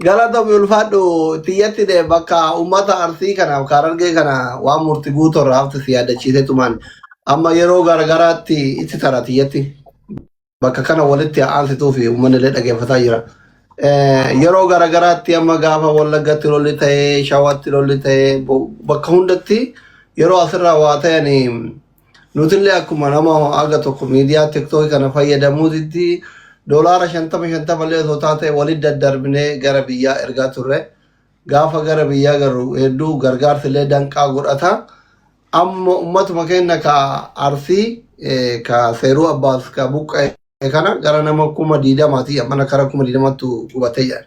Galatomi ulfaadhu tiyyatti de bakka ummata arsii kanaaf kan argee kana waan murti guutu irraa hafte si yaadachiisee tumaan amma yeroo garagaraatti itti tara tiyyatti bakka kana walitti aansituu fi uummanni illee dhaggeeffataa jira. Eh, Yeroo garagaraatti amma gaafa wallaggatti lolli ta'ee shawatti lolli ta'ee bo- bakka hundatti yeroo asirraa waa ta'anii Nutillee akkuma nama haga tokko miidiyaa tiktoki kana fayyadamuutitti doolaara shantama shantamallee osoo taate walitti daddarbinee gara biyyaa ergaa turre. Gaafa gara biyyaa garru hedduu gargaarsillee danqaa godhata. Amma ummatuma keenya ka Arsii, ka Seeruu Abbaas, ka Buqqa'e kana gara nama kuma diidamaati mana kara kuma diidamattu gubatee jira.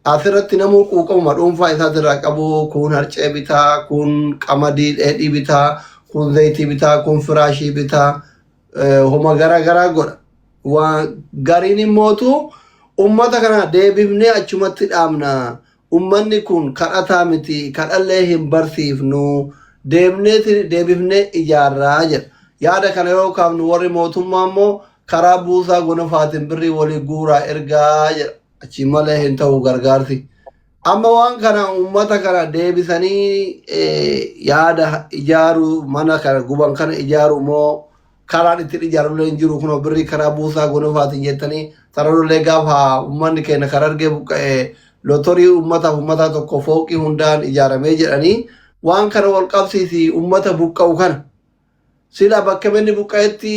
Asirratti namuu quuqamuma dhuunfaa isaa irraa qabu kun harcee bitaa, kun qamadii dheedhii bitaa, kun zayitii bitaa, kun firaashii bitaa, eh, homa gara garaa godha. Waan gariin immootu uummata kana deebifnee achumatti dhaabna. Ummanni kun kadhataa miti, kadhallee hin barsiifnu, deemneeti deebifnee ijaarra jedha. Yaada kana yeroo kaafnu warri mootummaa immoo karaa buusaa gonofaatiin birrii walii guuraa ergaa jedha. Achiin malee hin ta'u gargaarsi. Amma waan kana uummata kana deebisanii yaada ijaaruu mana kana guban kana ijaaruu moo karaan ittiin ijaarullee hin jiru kunoo birrii karaa buusaa gonofaatiin jettanii sararullee gaafa uummanni keenya kan argee buqqa'e lotorii uummataaf uummataa tokko fooqii hundaan ijaaramee jedhanii waan kana wal qabsiisi uummata buqqa'u kana sila bakka manni buqqa'etti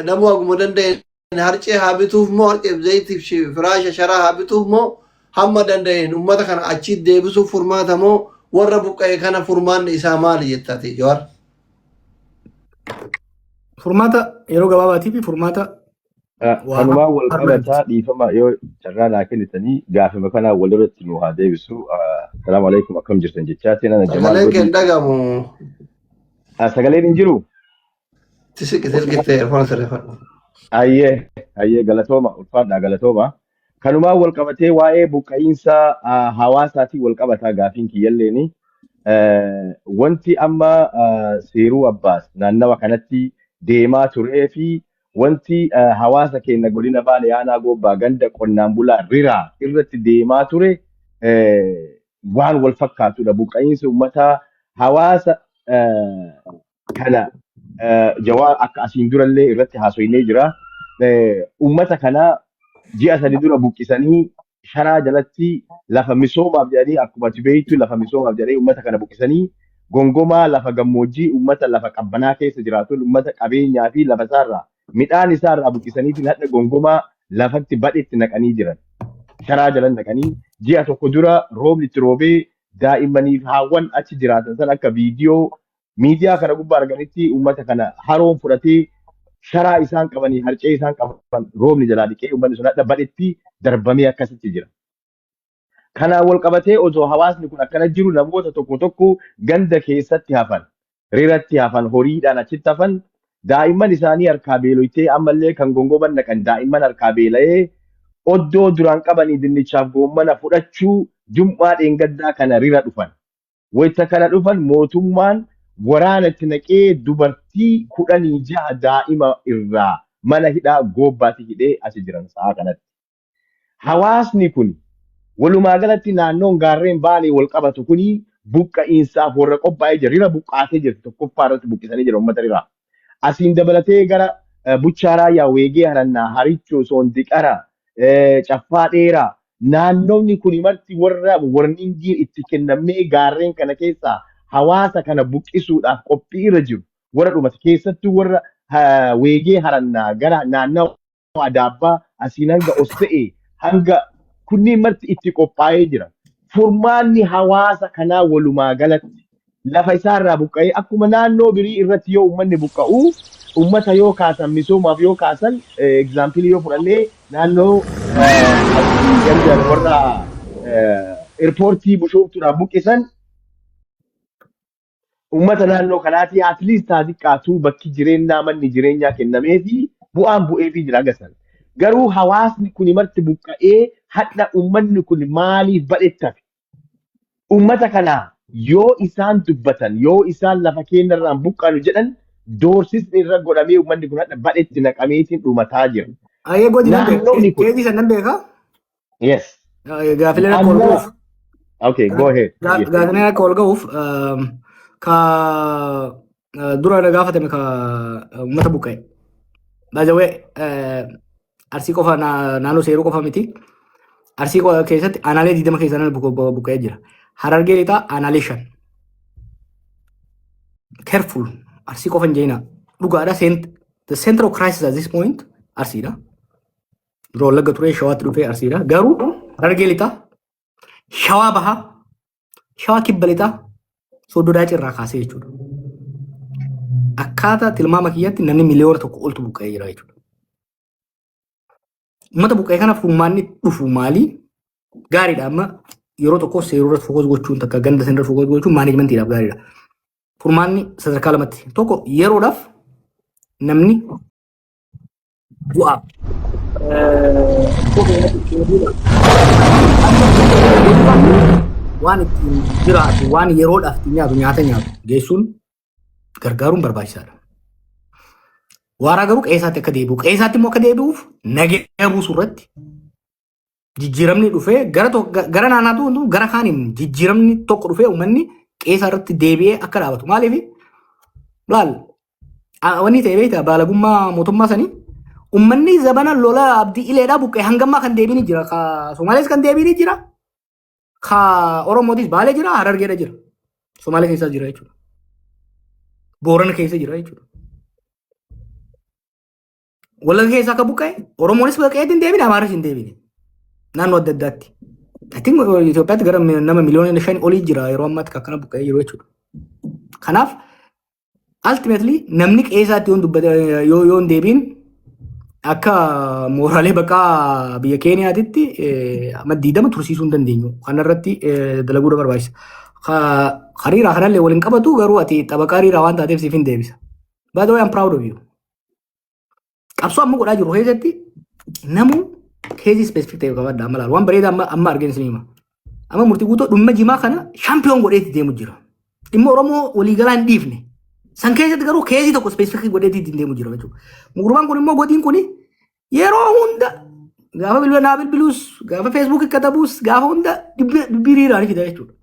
namuu haguma danda'e Harcee haa bituuf moo harceef zayitiif shi- firaasha sharaa haa bituuf moo hamma danda'een uummata kana achiit deebisuuf furmaata moo warra buqqa'e kana furmaanni isaa maali jettaati Jawaar? Furmaata yeroo gabaabaatii fi furmaata Ah, waa Kanumaa wal har'a qabataa jechuudha. dhiifama yoo carraa naa kennitanii gaafima kanaa wal irratti nu haa deebisu. Ah, Salaamu alaikum akkam jirtan jechaa seenana Jamaal Sagaleen kee hin Godii. dhagamu. Ah, Sagaleen hin jiru. Tisik silkittee erfoon sirreeffadhu. Ayyee, ayyee galatooma, ulfaadhaa galatooma. Kanumaan wal qabatee waa'ee buqqa'iinsa ah, hawaasaatiin wal qabataa gaafiin kiyyalleeni. Eh, Wanti amma ah, seeruu abbaas naannawa kanatti deemaa turee fi wanti ah, hawaasa keenya godina baale aanaa goobbaa ganda qonnaan bulaa riraa irratti deemaa ture eh, waan wal fakkaatudha. Buqqa'iinsi uummataa hawaasa eh, kana eh, jawaa akka asiin durallee irratti haasoinee jira. Eh, Uummata kana ji'a sadi dura buqqisanii sharaa jalatti lafa misoomaaf jedhanii akkuma ati beektu lafa misoomaaf jedhanii uummata kana buqqisanii gongomaa lafa gammoojjii uummata lafa qabbanaa keessa jiraatun uummata qabeenyaa fi lafa isaarraa midhaan isaarraa buqqisaniitiin hadha gongomaa lafatti badhetti naqanii jiran. sharaa jalan dhaqanii ji'a tokko dura roobni itti roobee daa'immanii fi haawwan achi jiraatan san akka viidiyoo miidiyaa kana gubbaa arganitti uummata kana haroon fudhatee sharaa isaan qabanii harcee isaan qaban roobni jalaa dhiqee uummanni sun hadha badhetti darbamee akkasitti jira. Kanaan wal qabatee osoo hawaasni kun akkana jiru namoota tokko tokko ganda keessatti hafan, riratti hafan, horiidhaan achitti hafan, daa'imman isaanii harkaa beeloytee ammallee kan gongoman naqan daa'imman harkaa beela'ee oddoo duraan qabanii dinnichaaf goommana fudhachuu jum'aa dheengaddaa kana rira dhufan. Wayita kana dhufan mootummaan waraana itti naqee dubartii kudhanii jaha daa'ima irraa mana hidhaa Goobbaatti hidhee achi jiran sa'aa kanatti. Hawaasni kun walumaa galatti naannoon gaarreen Baalee wal qabatu kun buqqa'iinsaaf warra qophaa'ee jira. Rira buqqaatee jirti tokkoffaa irratti buqqisanii jira uummata riraa. Asiin dabalatee gara eh, Buchaa Raayyaa, Weegee Harannaa, Harichoo, Soondiqara, eh, Caffaa Dheeraa naannoonni kuni marti warra warningiin itti kennamee gaarreen kana keessaa hawaasa kana buqqisuudhaaf qophii irra jiru. Warra dhumate keessattuu warra eh, Weegee Harannaa gara naannawa adaabbaa asiin hanga osse'ee hanga kunniin marti itti qophaa'ee jira. Furmaanni hawaasa kanaa walumaa galatti lafa isaa irraa buqqa'ee akkuma naannoo birii irratti yoo uummanni buqqa'u uummata yoo kaasan misoomaaf yoo kaasan egzaampilii yoo fudhannee naannoo asii ganda warra eerpoortii bushooftuudhaan buqqisan uummata naannoo kanaatii at least haa xiqqaatu bakki jireenyaa manni jireenyaa kennamee fi bu'aan bu'ee fi jira gasan. Garuu hawaasni kun marti buqqa'ee hadha uummanni kun maaliif badhettafe? Uummata kana yoo isaan dubbatan yoo isaan lafa keenyarraan buqqaanu jedhan doorsisni irra godhamee uummanni kun hadha badhetti naqameetiin dhumataa jira. Ayee godina Naannooni kun. keejii san nan beeka. Yes. Eh, Gaafileen akka ol Amma ga'uuf okay go ahead. Ga- Yes. Gaafileen akka ol ga'uuf ehm, ka eh, dura na gaafatame ka eh, uummata buqqa'e. By the way, eh, arsii qofa na- naannoo seeruu qofa miti. Arsii qofa keessatti aanaalee 20 keessaa namni buqqa'u- bu- buqqa'ee jira. Harargee lixaa aanaalee 5. Careful. Arsii qofa hin jeenaa. Dhugaadha. sent- The center of crisis at this point arsiidha. Dura wallagga turee shawaatti dhufee arsiidha. Garuu harargee lixaa, shawaa bahaa, shawaa kibba lixaa, soddoo daacii irraa kaasee jechuudha. Akkaataa tilmaama kiyyatti namni miliyoona tokko oltu buqqa'ee jira jechuudha. Uummata buqqa'ee kanaaf furmaanni dhufu maali? Gaariidha amma yeroo tokko seeruu irratti fokoos gochuun takka ganda sana irratti fokoos gochuun maanejmentiidhaaf gaariidha. Furmaanni sadarkaa lamatti tokko yeroodhaaf namni bu'a. Waan ittiin jiraatu, waan yeroodhaaf ittiin nyaatu, nyaata nyaatu geessuun gargaaruun barbaachisaadha. Waaraa garuu qe'eesaatti akka deebi'u, qe'eesaatti immoo akka deebi'uuf nageenya buusuu irratti jijjiiramni dhufee gara to- ga- gara naannaa tokko gara kaaniin jijjiiramni tokko dhufee uummanni qeesaa irratti deebi'ee akka dhaabatu. Maaliif laal a- wanni ta'e beektaa baalagummaa mootummaa sanii uummanni zabana lola abdii ileedhaa buqqee hangammaa kan deebiin jira. Ka Somaalees kan deebiin jira. Ka Oromootis baalee jira harargeedha jira. Somaalee keessaa jira jechuudha. Boorana keessa jira jechuudha. Wallagga keessaa akka buqqa'e Oromoonis buqqa'eetti hin deebine Amaaris hin deebine. Naannoo adda addaatti. Atiin Itoophiyaatti gara mi- nama miliyoona shan olii jira yeroo ammaatti kan akkana buqqa'ee jiru jechuudha. Kanaaf ultimately namni qe'eesaatti yoon dubbate yoo yoon deebiin akka mooraalee baqaa biyya Keeniyaatitti eh, amma diidama tursiisuu hin dandeenyu. Kanarratti eh, dalaguudha barbaachisa. Ka- Hariiraa kanallee waliin qabatu garuu ati xabaqaa hariiraa waan taateef siif hin deebisa. By the way, I'm proud of you. Qabsoo amma godhaa jirru keessatti namuu keezii ispeesifik ta'e qabadha amma laala. Waan bareedaa amma amma arginu isin hima. Amma murtii guutoo dhumma jimaa kana shaampiyoon godheetti deemu jira. Dhimma Oromoo waliigalaa hin dhiifne. San keessatti garuu keezii tokko ispeesifikii godheetti ittiin deemu jira jechuudha. Gurbaan kun immoo godin kun Yeroo hunda gaafa bilbila naa bilbiluus gaafa feesbuuk katabuus gaafa hunda dubbii riiraan fida jechuudha.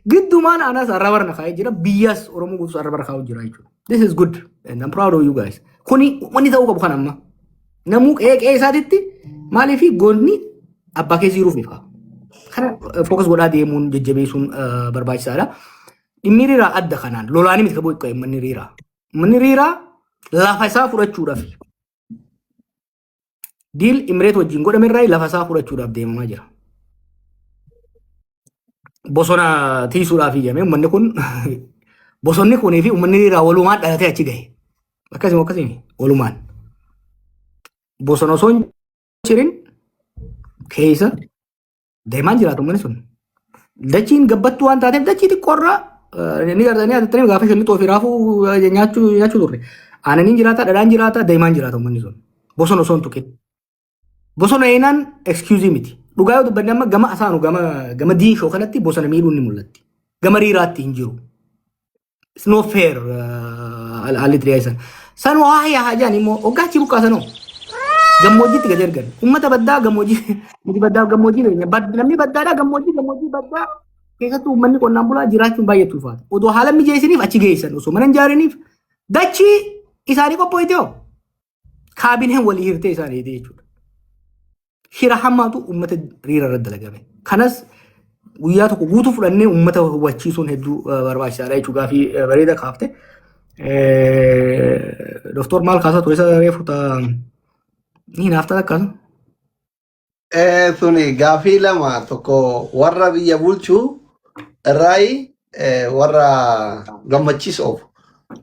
Giddumaan anas arraba irra kaa'ee jira biyyas Oromoo guutus arraba irra kaa'u jira jechuudha. This is good and I'm proud of you guys. Kuni wanni ta'uu qabu kan amma. Namuu qe'ee qe'ee isaatitti maaliif goonni abbaa keessa jiruuf ni fa'a. Kana fookas godhaa deemuun jajjabeessuun eh, barbaachisaadha. Dhimmi riiraa adda kanaan lolaanii miti qabuu eeggatu manni riiraa. Manni riiraa lafa isaa fudhachuudhaaf Diil Imireet wajjin godhame irraa lafa isaa fudhachuudhaaf deemamaa jira. Bosona tiisuudhaaf iyyame uummanni kun bosonni kunii fi uummanni irraa walumaan dhalatee achi gahe. Akkasuma akkasuma walumaan. Bosona osoo hin jirin keessa Deemaan jiraatu uummanni sun. Dachiin gabbattuu waan taateef dachii xiqqoorraa ni gartanii haatattanii gaafa shalli xoofi raafuu eh, nyaachuu nyaachuu turre. Aananiin jiraata, dhadhaan jiraata, deemaan jiraata uummanni sun. Bosona osoo hin tuqin. Bosona eenaan excuse miti. Dhugaa yoo dubbanne amma gama asaanu gama gama diinshoo kanatti bosona miidhuun ni mul'atti. Gama riiraatti hin jiru. It's no fair haalli itti dhiyeessan. San waa yaa hajaan immoo hoggaa achi buqqaasanoo. Gammoojjiitti gad ergan. Uummata baddaa gammoojjii nuti baddaa gammoojjii beekna. Bad- Namni baddaadhaa gammoojjii gammoojjii baddaa keessattuu uummanni qonnaan bulaa jiraachuun baay'ee tuufaata. Odoo haala mijeessiniif achi geessan osoo mana hin ijaariniif dachii isaanii qopho'itee hoo? Kaabineen walii hirtee isaan eegdee jechuudha. Hira hammaatu uummata riira irratti dalagame. Kanas guyyaa tokko guutuu fudhannee uummata hubachiisuun hedduu barbaachisaadha jechuudha. Gaafii bareeda kaafte. Doktor maal kaasaa ture isa reefu ta'a. Ni naaf ta'a akkasuma. Eh, Tuni gaafii lama tokko warra biyya bulchuu irraayi eh, warra gammachiis oofu.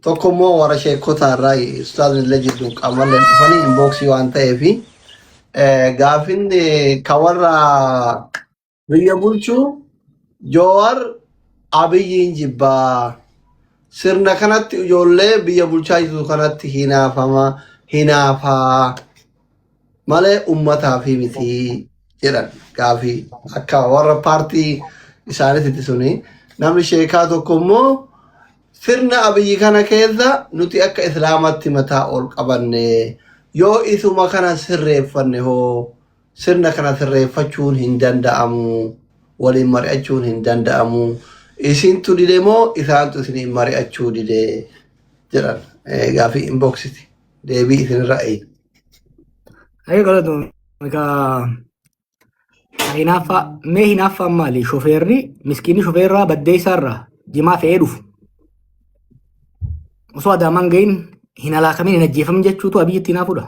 Tokko immoo warra sheekota irraayi ustaazni illee jidduu qaamallee dhufanii inbooksii waan ta'eefi eh, gaafiin eh, ka warra Biyya bulchuu Joowar Abiyyiin jibbaa. Sirna kanatti ijoollee biyya bulchaa jirtu kanatti hinaafama hinaafaa malee ummataaf miti jedhan gaafii akka warra paartii isaaniitti suni namni sheekaa tokko immoo sirna abiyyi kana keessa nuti akka islaamatti mataa ol qabanne yoo isuma kana sirreeffanne hoo Sirna kana sirreeffachuun hin danda'amu, waliin mari'achuun hin danda'amu, isintu dide moo isaantu isiniin mari'achuu dide jedhan gaafii inboxiti deebii isinirra eegna. Ayi galatoom egaa hinaaffaa mee hinaaffaan maali shofeerri miskiinni shofeerraa baddeessaarraa jimaa fe'ee dhufu osoo adaamaan gahin hin halaakamin hin ajjeefamin jechuutu abiyyitti hinaafuudha.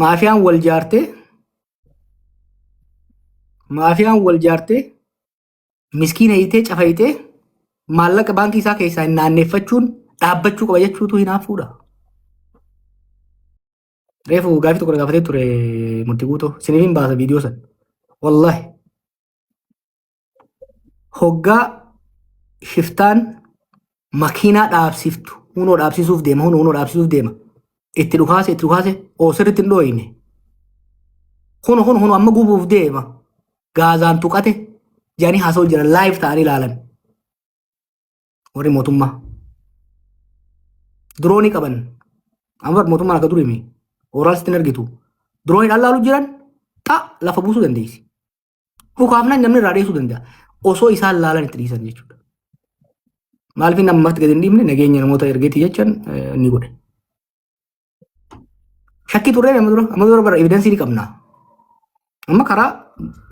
maafiyaan wal jaartee maafiyaan wal jaartee miskiina hiitee cafa hiitee maallaqa baankii isaa keessaa hin naanneeffachuun dhaabbachuu qaba jechuutu hinaaffuudha. Reefu gaafii tokko gaafatee ture murtii guutoo isiniif hin baasa viidiyoo sana. Wallaahi. hoggaa shiftaan makiinaa dhaabsiftu hunoo dhaabsisuuf deema hunoo hunoo dhaabsisuuf deema itti dhukaase itti dhukaase oo sirriitti hin dhooyne hunu hunu hunu amma gubuuf deema gaazaan tuqate jedhanii haasa'u jira laayif ta'anii ilaalan warri mootummaa diroonii qaban amma bar mootummaan akka durii mi ooraal sitti hin argitu diroonii dhalaalu jiran xa lafa buusuu dandeessi Dhukaafnaan namni irraa dheessuu danda'a. Osoo isaan laalan itti dhiisan jechuudha. Maaliif inni ammatti gadi hin dhiifne nageenya namoota ergeetti jechan ni godhe. Shakkii turree amma dura amma dura bara evidensii ni qabna. Amma karaa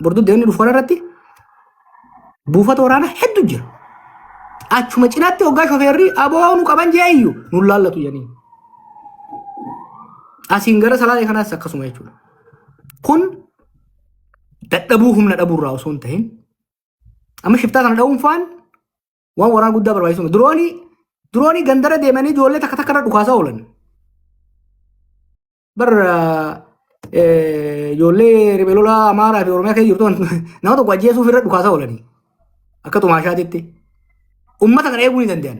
borduu deemni dhufu kanarratti buufata waraanaa heddu jira. Achuma cinaatti hoggaa shofeerri aboo nu qaban jee iyyu nu laallatu jedhanii. Asiin gara salaalee kanaas akkasuma jechuudha. Kun dadhabuu humna dhabuu irraa osoo hin ta'in amma shiftaa kana dha'uun faan waan waraana guddaa barbaachisuma. Diroonii diroonii gandara deemanii ijoollee takka takka irra dhukaasaa oolan. Bar ijoollee riphee lolaa Amaaraa fi Oromiyaa keessa jirtu nama tokko ajjeesuuf irra dhukaasaa oolanii akka tumaashaatitti. Uummata kana eeguu ni danda'an.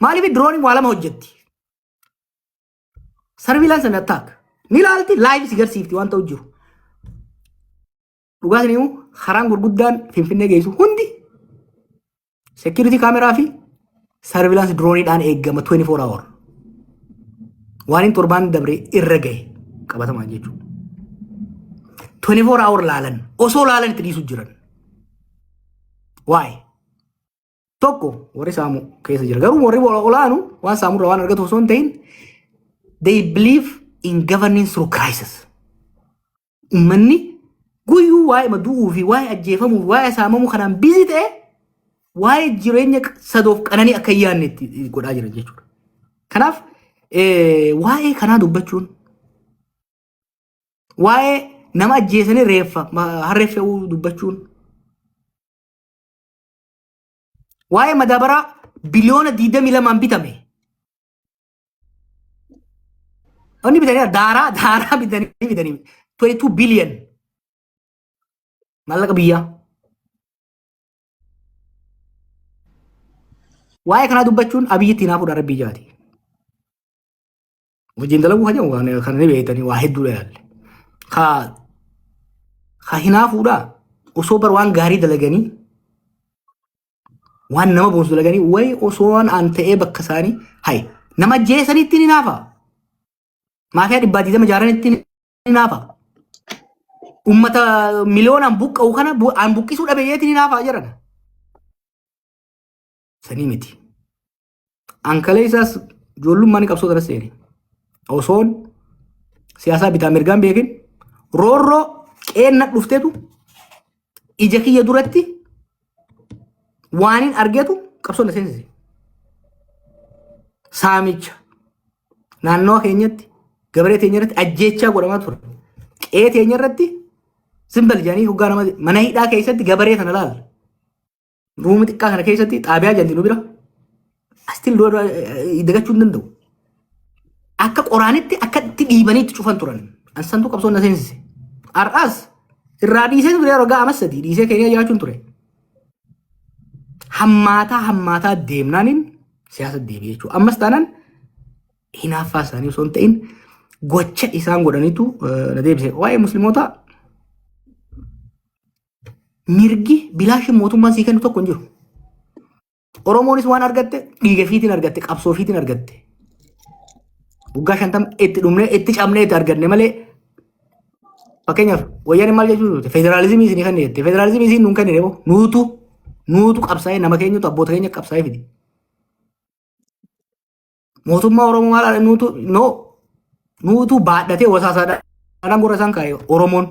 Maaliif dirooniin waa lama hojjetti? Sarviilaansi and attack. Ni ilaalti laayiif si garsiifti waan ta'u jiru. Dhugaa saniyyuu karaan gurguddaan Finfinnee geessu hundi security kaameraa fi sarviilaansi dirooniidhaan eegama 24 hour. Waan hin torbaan dabre irra gahe qabatamaan jechuudha. 24 hour laalan osoo laalan itti dhiisu jiran. Why? tokko warri saamu keessa jira. Garuu warri olaanu waan saamurra waan argatu osoo hin ta'in they believe in governing through crisis. Uummanni guyyuu waa'ee madu'uu fi waa'ee ajjeefamuu fi waa'ee saamamuu kanaan bizi ta'e waa'ee jireenya sadoof qananii akka hin yaadne itti godhaa jira jechuudha. Kanaaf waa'ee kanaa dubbachuun waa'ee nama ajjeesanii reeffa harreef fe'uu dubbachuun Waa'ee madaabaraa biliyoona 22 bitame. Wanni bitanii daaraa daaraa bitanii bitanii 22 biliyoon maallaqa biyyaa. Waa'ee kanaa dubbachuun abiyyi itti naafudha rabbii jaati. Wajjin dalaguu kan jedhu kan kan ni beektanii waa hedduudha yaalle. Ka ka hinaafuudha osoo bar waan gaarii dalaganii waan nama boonsu dalaganii wayi osoo waan aan ta'ee bakka isaanii hayi nama ajjeesanitti ni naafa. Maafiyaa dhibbaa digdama jaaranitti ni naafa. Uummata miliyoonaan buqqa'u kana bu- aan buqqisuu dhabeeyyeetti ni naafa jedhan. Sanii miti. An kaleessaas ijoollummaa ni qabsoo tanas seene. Osoon siyaasaa bitaa mirgaan beekin roorroo qeenna dhuftetu ija kiyya duratti waanin argetu qabsoo na seensise. Saamicha naannawa keenyatti gabaree teenya irratti ajjeechaa godhamaa ture. Qe'ee teenya irratti simbal jedhanii hoggaa nama mana hidhaa keessatti gabaree sana laala. Ruumi xiqqaa kana keessatti xaabiyaa jalli nu bira astiin lola dagachuu hin danda'u. Akka qoraanitti akka itti dhiibanii itti cufan turan. Ansantu qabsoon na seensise. Har'aas irraa dhiisee ture yeroo ga'a amas sadii dhiisee keenya jiraachuun ture. Hammaataa hammaataa deemnaaniin siyaasa deebi'e jechuudha. Ammas taanaan hinaaffaa isaanii osoo hin ta'in gocha isaan godhanitu eh, na deebise. Waa'ee musliimotaa Mirgi bilaashin mootummaan sii kennu tokko hin jiru. Oromoonis waan argatte dhiiga fiitiin argatte qabsoo fiitiin argatte. Waggaa shantama itti dhumnee itti cabnee itti arganne malee fakkeenyaaf wayyaaneen maal jechuu turte federaalizimii isinii kan jette federaalizimii isin nuun kennine moo nuutu nuutu qabsaa'ee nama keenyatu abboota keenya qabsaa'ee fide. Mootummaa Oromoo maal dha nuutu no nuutu baadhatee wasaasaa dha. Dhaadhaan gurra isaan kaa'e Oromoon.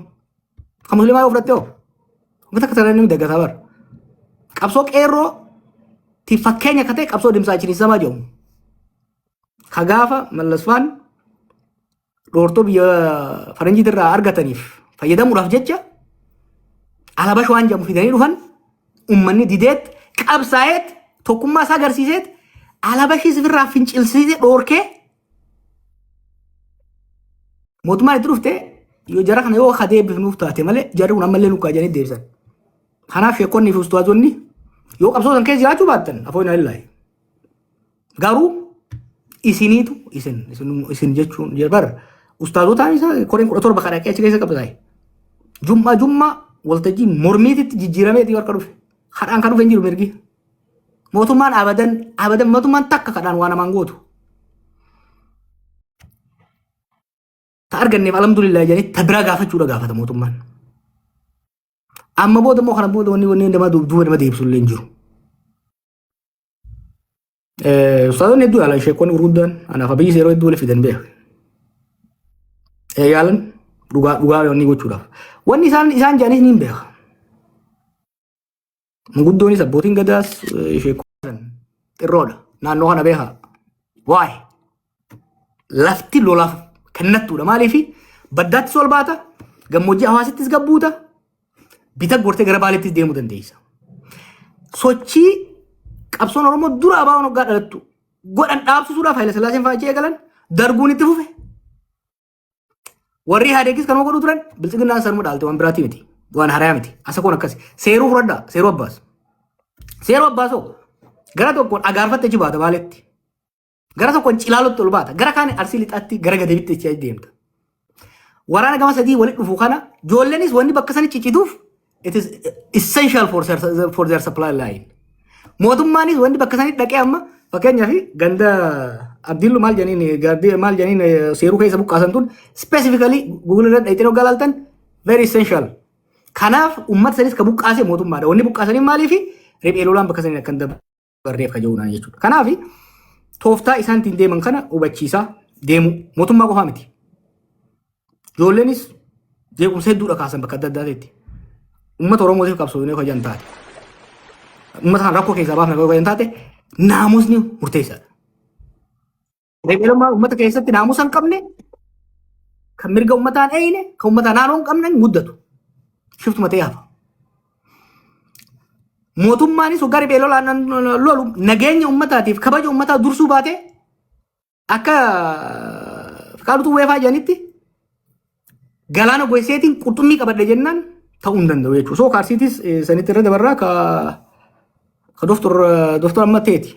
Kan musliimaa yoo fudhatte hoo? Uummata akka sarara inni daggataa bara. Qabsoo qeerroo ti fakkeenya akka ta'e qabsoo dimsaa chiriisamaa jedhamu. Ka gaafa mallasfaan dhoortoo biyya faranjiit irraa argataniif fayyadamuudhaaf jecha alabash waan jedhamu fidanii dhufan ummanni dideet qabsaa'eet tokkummaa isaa agarsiiseet alabashii sifirraa fincilsiise dhoorkee mootummaan itti dhufte yoo jara kana yoo kadee bifnuuf taate malee jarri kun ammallee nukkaa jedhanii deebisan. Kanaaf sheekonni fi ustaazonni yoo qabsoo san keessa jiraachuu baattan afoo hin alillahi. Garuu isiniitu isin isin isin jechuun bar ustaazotaan isaa koreen kudha torba kan dhaqee achi keessa qabsaa'e. Jummaa jummaa waltajjii mormiititti jijjiirameeti warra dhufe. Kadhaan kan dhufe hin jiru mirgi. Mootummaan abadan abadan mootummaan takka kadhaan waan namaan gootu. Ta arganneef alhamdulillah jedhanii ta biraa gaafachuudha gaafata mootummaan. Amma booda immoo kana booda wanni wanni nama duuba nama deebisuullee hin jiru. Ustaazonni hedduu yaalan sheekonni gurguddaan anaaf abiyyi yeroo hedduu waliif fidan beeku. Yaalan dhugaa dhugaa yoonni gochuudhaaf. Wanni isaan isaan jedhanis ni beeka. Manguddoonis abbootiin gadaas sheekonni xirroodha. Naannoo kana beeka. Waa'ee. lafti lolaaf kennattuudha. Maaliif baddaattis ol baata, gammoojjii hawaasittis gabbuuta, bita gortee gara baaleettis deemuu dandeessa. Sochii qabsoon Oromoo dura abaawoon hoggaa dhalattu godhan dhaabsisuudhaaf Haayila Sillaaseen fa'aa jee galan darguun itti fufe. Warri Ihaadeegis kanuma godhu turan bilxiginnaan sanuma dhaalte waan biraatii miti. Waan harayaa miti. Asa kun akkasi. Seeruu fudhadhaa. Seeruu abbaas. Seeruu abbaasoo gara tokkoon agaarfatte achi baata baaleetti. Gara tokkoon cilaalootti ol baata. Gara kaan arsii lixaatti gara gadeebitti itti deemta. Waraana gama sadii walitti dhufu kana joolleenis wanni bakka sana ciccituuf it is essential for, their- for their supply line. Mootummaanis wanni bakka sana dhaqee amma fakkeenyaaf ganda abdiillu maal janiin gardii maal janiin eh, seeruu keessa buqqaasan tun specifically google irra dhayxeen hoggaa laaltan very essential. Kanaaf uummata sanis ka buqqaase mootummaadha. Wanni buqqaasanii maaliifi riphee lolaan bakka saniin akka hin dabarre. barreef ka jedhuudhaan jechuudha. Kanaaf tooftaa isaan ittiin deeman kana hubachiisaa deemuu mootummaa qofaa miti. Ijoolleenis jeequmsa hedduudha kaasan bakka adda addaatitti. Uummata Oromootiif qabsoofnee hojjan taate. Uummata kan rakkoo keessaa baafne hojjan taate naamusni murteessaadha. Reebeelummaa uummata keessatti naamusa hin qabne, kan mirga uummataa hin eeyine, kan uummataa naannoo hin qabne muddatu. Shiftuma ta'ee hafa. Mootummaanis hoggaa reebeelolaan lolu nageenya uummataatiif kabaja uummataa dursuu baatee akka Fiqaadutu weefaa jedhanitti Galaana Goiseetiin qurxummii qabadhe jennaan ta'uu hin danda'u jechuudha. Soo kaarsiitis eh, sanitti irra dabarraa ka ka doktor doktor amma ta'eeti.